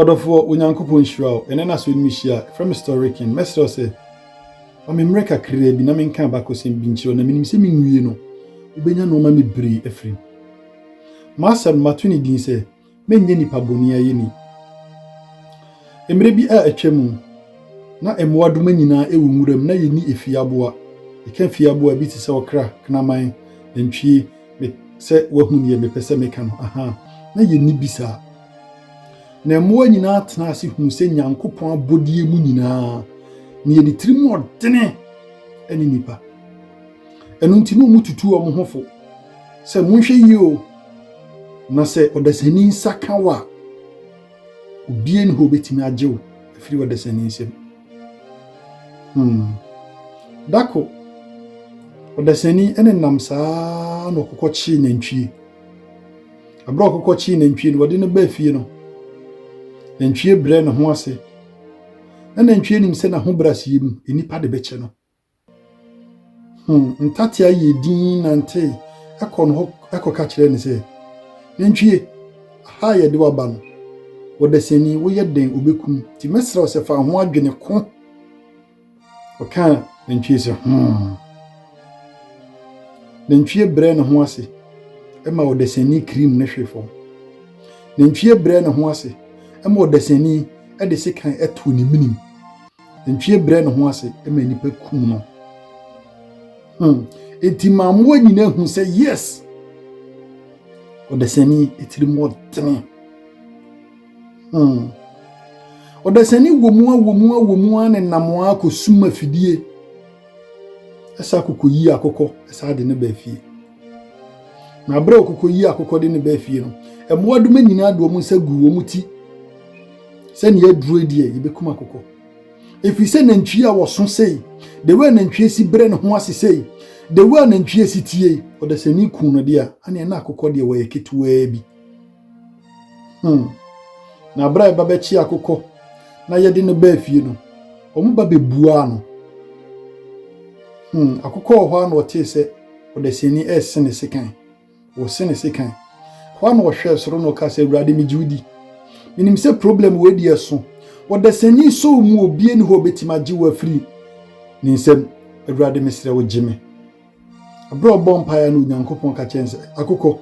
Ɔdɔfoɔ, Onyankopɔn nhyira wo. Ɛnnɛ na asɔre no mu hyia. Frɛ me Storeken. Mɛsrɛ wo sɛ, ma me mmerɛ kakraa bi na menka abakɔsɛm bi nkyerɛ wo, na menim sɛ menwie no, wobɛnya nnoɔma bebree afiri mu. M'asɛm no, mato ne din sɛ, Mennyɛ Nnipa Bɔne Ayeni. Mmerɛ bi a atwa mu, na mmoadoma nyinaa wɔ nwura mu, na yɛnni efie aboa. Yɛka fie aboa bi te sɛ ɔkra, kraman, nantwie, me, sɛ woahu deɛ mepɛ sɛ meka no, ahaa, na yɛnni bi saa. Na mmoa nyinaa tenaa ase huu sɛ Nyankopɔn abɔdeɛ mu nyinaa na yɛde tirim ɔdene ne nnipa. Ɛno nti na wɔtutu wɔn ho fo sɛ monhwɛ yie o, na sɛ ɔdasani nsa ka wo a, obie ne hɔ obɛtumi agye wo afiri ɔdasani nsam. Hmm. Dako, ɔdasani ne nam saa na ɔkokɔ kyee nantwie. Bere a ɔkɔkɔkyee nantwie no, wɔde no baa fie no, nantwie brɛ ne ho ase. Na nantwie nim sɛ n'ahobrɛaseɛ mu, nnipa de bɛkyɛ no. Hmm, ntatea yɛ din nantee ɛkɔ no hɔ ɛkɔka kyerɛ no sɛ, Nantwie, aha a yɛde waba no, ɔdasani, woyɛ den, ɔbɛkum, nti mɛsrɛ wo sɛ fa ho adwene ko. Ɔkaa nantwie sɛ, Hom. Nantwie brɛɛ ne ho ase ma ɔdasani kirim no hwee fam. Nantwie brɛɛ ne ho ase ma ɔdasani de sekan too ne menem. Nantwie brɛɛ ne ho ase ma nnipa kum no. Hmm. Enti ma mmoa nyinaa hu sɛ, yes, ɔdasani tirim ɔtene. Hmm. Ɔdasani wɔ mu a wɔ mu a wɔ mu a ne nam a kɔsum afidie ɛsa kɔkɔyi akokɔ ɛsa de ne baa fie. Na berɛ a ɔkɔkɔyi akokɔ de ne baa fie no, mmoadoma nyinaa de wɔn nsa gu wɔn ti sɛnea aduro deɛ yɛbɛkum akokɔ. Ɛfiri sɛ nantwie a wɔso sei, the way nantwie si berɛ ne ho ase sei, the way nantwie si tie, ɔdasani ku no deɛ a, aneɛ na akokɔ deɛ wɔyɛ ketewaa bi. Hmm. Na berɛ a ɛba bɛkye akokɔ na yɛde no baa fie no, wɔn ba bɛbuaa no. Hmm. Akokɔ wɔ hɔ a na ɔtee sɛ ɔdasani rese ne sekan. Wɔse ne sekan. Hɔ a na ɔhwɛɛ soro na ɔka sɛ, Awurade, megye wo di. Menim sɛ problem wei deɛ so. Ɔdasani so mu obie ne hɔ a ɔbɛtumi agye wo afiri ne nsam. Awurade, mesrɛ wo gye me. Bere a ɔbɔɔ mpae no, Onyankopɔn ka kyerɛɛ no sɛ, Akokɔ,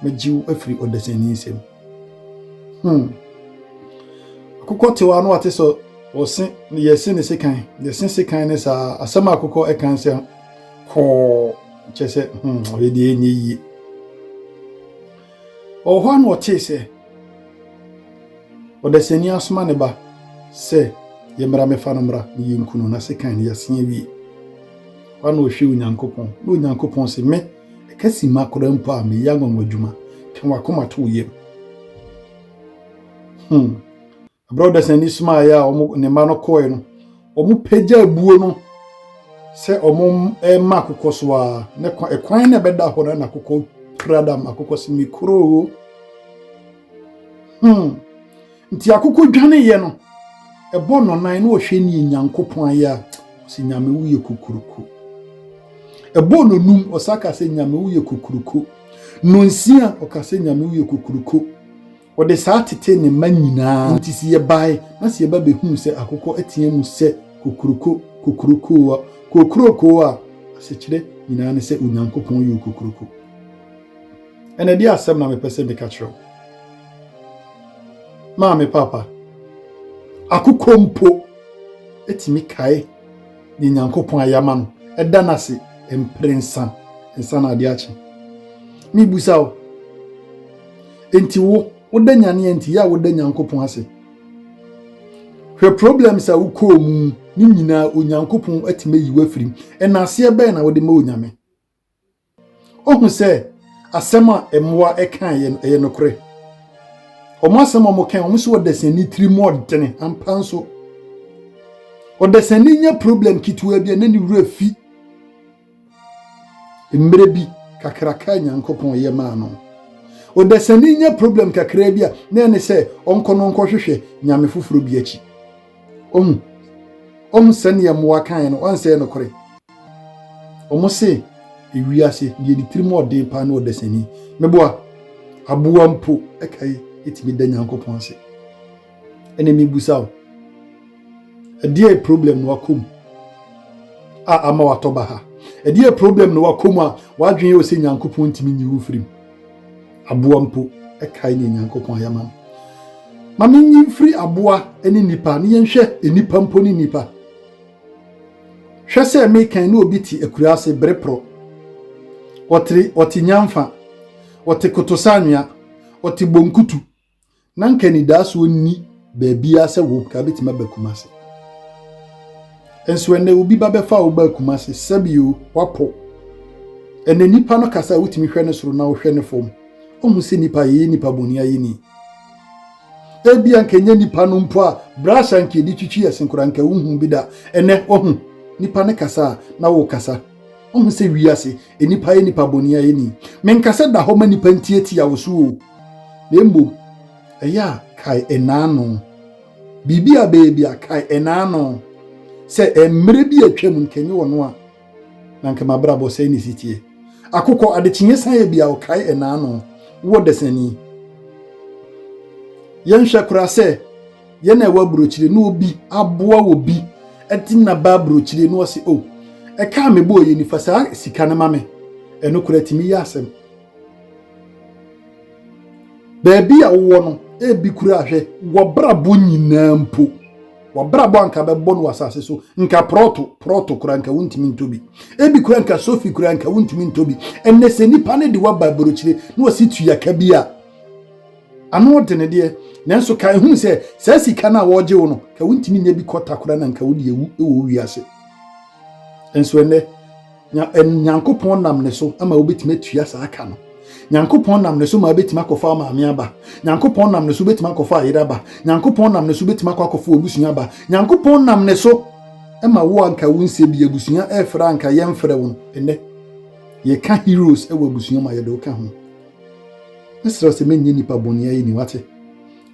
megye wo afiri ɔdesani nsam. Hmm. Akokɔ tew a na wate sɛ ɔse ne yɛse ne sekan, yɛse sekan ne saa asɛm a akokɔ ɛkan sɛ kɔɔ kyerɛ sɛ hmm, ɔyɛ deɛ ɛnyɛ yie. Ɔwɔ hɔ ara na ɔtee sɛ ɔdasani asoma ne ba sɛ, Yɛmmra mmɛfa no mmra na yenku no, na sekan no, yɛasen awie. Hɔ ara na ɔhwɛɛ Onyankopɔn, na Onyankopɔn se, Me, ɛka simma koraa mpo a meyɛ anwanwadwuma, ka w'akoma to wo yam. Hmm. Berɛ a ɔdasani somaeɛ a wɔn ne mma no kɔɔe no, wɔpagya abuo no sɛ wɔrema akokɔ so ara, na kwan ɛkwan na ɛbɛda hɔ no na akokɔ pira da ma akokɔ sɛ mekuroo. Hmm. Nti akokɔ dwaneeɛ no, ɛbɔ no nan na ɔhwɛ nie Nyankopɔn ayɛ a, ɔsɛ Nyame woyɛ kokuroko. Ɛbɔ no num, ɔsa ka sɛ Nyame woyɛ kokuroko. Nonsia, ɔka sɛ Nyame woyɛ kokuroko. Wɔde saa tetee ne mma nyinaa. Enti se yɛbae, na se yɛba behuu sɛ akokɔ ateɛ mu sɛ, Kokuroko, kokurokoo, kokurokoo a asekyerɛ nyinaa ne sɛ Onyankopɔn ye okokuroko. Ɛnna ɛdeɛ asɛm na mepɛ sɛ meka kyerɛ wo, Maame Papa, akokɔ mpo tumi kae deɛ Nyankopɔn ayɛ ama no, ɛda no ase mprɛnsa, ansa na adeɛ akye. Mebusa wo, Enti wo woda nyane a nti yɛ a woda Nyankopɔn ase. Hwɛ problems a wokɔɔ mu ne nyinaa Onyankopɔn atumi ayi wafiri mu. Ɛnaaseɛ bɛn na wode ma Onyame? Ohu sɛ asɛm a mmoa ɛkaa yɛ no ɛyɛ nokorɛ. Wɔn asɛm a wɔka wɔn so ɔdasani tiri mu ɔdene ampa nso. Ɔdasani nya problem ketewa bi a na ne wura fi. Mmerɛ bi kakraka a Nyankopɔn yɛ maa no. Ɔdasani nya problem kakraa bi a, na ɛne sɛ ɔnkɔ no nkɔhwehwɛ nyame foforɔ bi akyi. Ɔhu ɔhu sɛdeɛ mmoa kaeɛ no, ɔnsɛ yɛ nokorɛ. Ɔmo se ewiase deɛ ne tirim ɔden paa ne ɔdasani. Meboa, aboa mpo ɛkae ɛtumi da Nyankopɔn ase. ɛna mebisa wo ɛdeɛ problem na wakɔ mu a ama watɔ ba ha ɛdeɛ problem na wakɔ mu a wadwene yɛ sɛ nyankopɔn ntumi nyi wo mfiri mu aboa mpo ɛkae ne nyankopɔn ayɛ ma ma menyi mfiri aboa ne nipa ne yɛnhwɛ nipa mpo ne nipa hwɛ sɛ mekan ne obi te akura ase bere porɔ ɔte nyamfa ɔte kotosanwea ɔte bonkutu Na nka anidaso nni baabiara sɛ wo ka bɛtumi aba Kumase. Nso ɛnɛ obi ba bɛfa wo ba Kumase sɛbio wapo. Ɛnɛ nipa no kasa a wotumi hwɛ ne soro na wohwɛ ne fam. Ɔhu sɛ nipa yɛyɛ nipa bɔne ayɛni. Ebia nka nyɛ nipa no mpo a brush anka yɛde twitwi ɛsen koraa nka wohu bi da. Ɛnɛ wahu nipa no kasa a na wokasa. Ɔhu sɛ wiase Nnipa yɛ nnipa bɔne a ɛnni. Menka sɛ da hɔ ma nnipa ntiatia wo so o, na mmom ɛyɛ a kae ɛnaano. Biribi a bɛyɛ bi a kae ɛnaano. Sɛ mmerɛ bi a atwam nka ɛnyɛ ɔno a na nka m'abrabɔ sɛe ne si teɛ. Akokɔ adekyeeɛ san yɛ bi a ɔkae ɛnaano. Wowɔ dasani. Yɛnhwɛ koraa sɛ yɛ na ɛwɔ aburokyire na obi aboa wɔ bi ɛti na ba aburokyire na ɔsi o oh, ɛka a mebɔ ɔyɛ nifa saa sika no ma me ɛno kora tumi yɛ asɛm baabi a wowɔ no ebi kura ahwɛ wɔbrabɔ nyinaa mpo wɔbrabɔ anka bɛbɔ no asase so nka prɔto prɔto kura nka wontumi ntɔ bi ebi kura nka sofi kura nka wontumi ntɔ bi ɛnɛ sɛ nipa ne de waba aburokyire na ɔsi tuyaka bi a Ano ɔde ne deɛ, nanso ka ɛhunu sɛ saa sika no a wɔregye wo no, ka wontumi nyɛ bi kɔta kora na nka wode awu wɔ wo wiase. Nso ɛnɛ, Nyankopɔn nam ne so ama wobɛtumi atua saa ka no. Nyankopɔn nam ne so ma wobɛtumi akɔfa wo maame aba. Nyankopɔn nam ne so wobɛtumi akɔfa ayere aba. Nyankopɔn nam ne so wobɛtumi akɔ akɔfa w'abusua aba. Nyankopɔn nam ne so ma wo anka wo nsɛ bi abusua ɛfrɛ anka yɛmfrɛ wo no. Ɛnɛ, yɛka heroes wɔ abusua mu a yɛde wo ka ho. Mesrɛ sɛ menyɛ nipa bɔne ayɛ ni wate.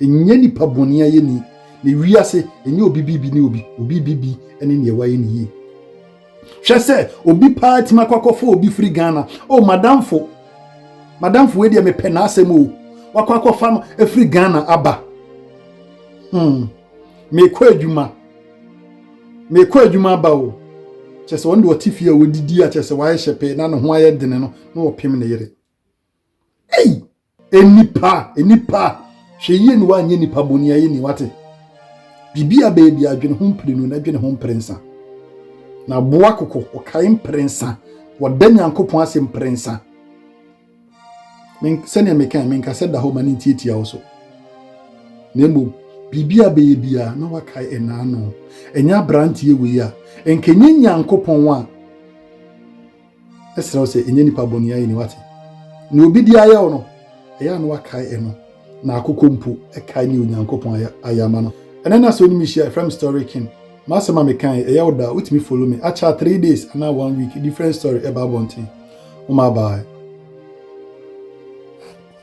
Ɛnyɛ nipa bɔne ayɛ ni na wiase ɛnyɛ obi bibi ne obi obi bibi ne neɛ wayɛ ne yie. Hwɛ sɛ obi paa tumi akɔ akɔfo obi firi Ghana o oh, madamfo madamfo wei deɛ mepɛ n'asɛm o oh. wakɔ akɔfa no afiri Ghana aba hmm. mekɔ adwuma mekɔ adwuma aba o oh. kyɛ sɛ ɔno deɛ ɔte fie a wɔdidi a kyɛ sɛ wayɛ hyɛ pɛɛ na ne ho ayɛ dene no na ɔpem ne yere ei nnipa nnipa hwɛ yie ne woanyɛ nnipa bɔne ayɛ ni wate biribi a baabi adwene ho mpere no na adwene ho mpere nsa na boa koko ɔkae mpere nsa wɔda nyankopɔn ase mpere nsa sɛnea meka menka sɛ da hɔ ma ne ntiatia wo so na mmom biribi a bɛyɛ biara na wakae ɛnaa no ɛnyɛ aberanteɛ wei a nkɛnyɛ nyankopɔn a Ɛsrɛ wo sɛ ɛnyɛ nipa bɔne ayɛ ni wate. Nea obi de ayɛ wo no, ɛyɛ a na wakae ɛno. Na akokɔ mpo kae nea Onyankopɔn ayɛ ayɛ ama no. Ɛnɛ na sɛ wo ne me hyia a, ɛfrɛ me story king. M'asɛm a meka yi, ɛyɛ wo da a, wotumi follow me. Akyɛ a three days anaa one week, different story ɛba abɔnten. Wo ma bye.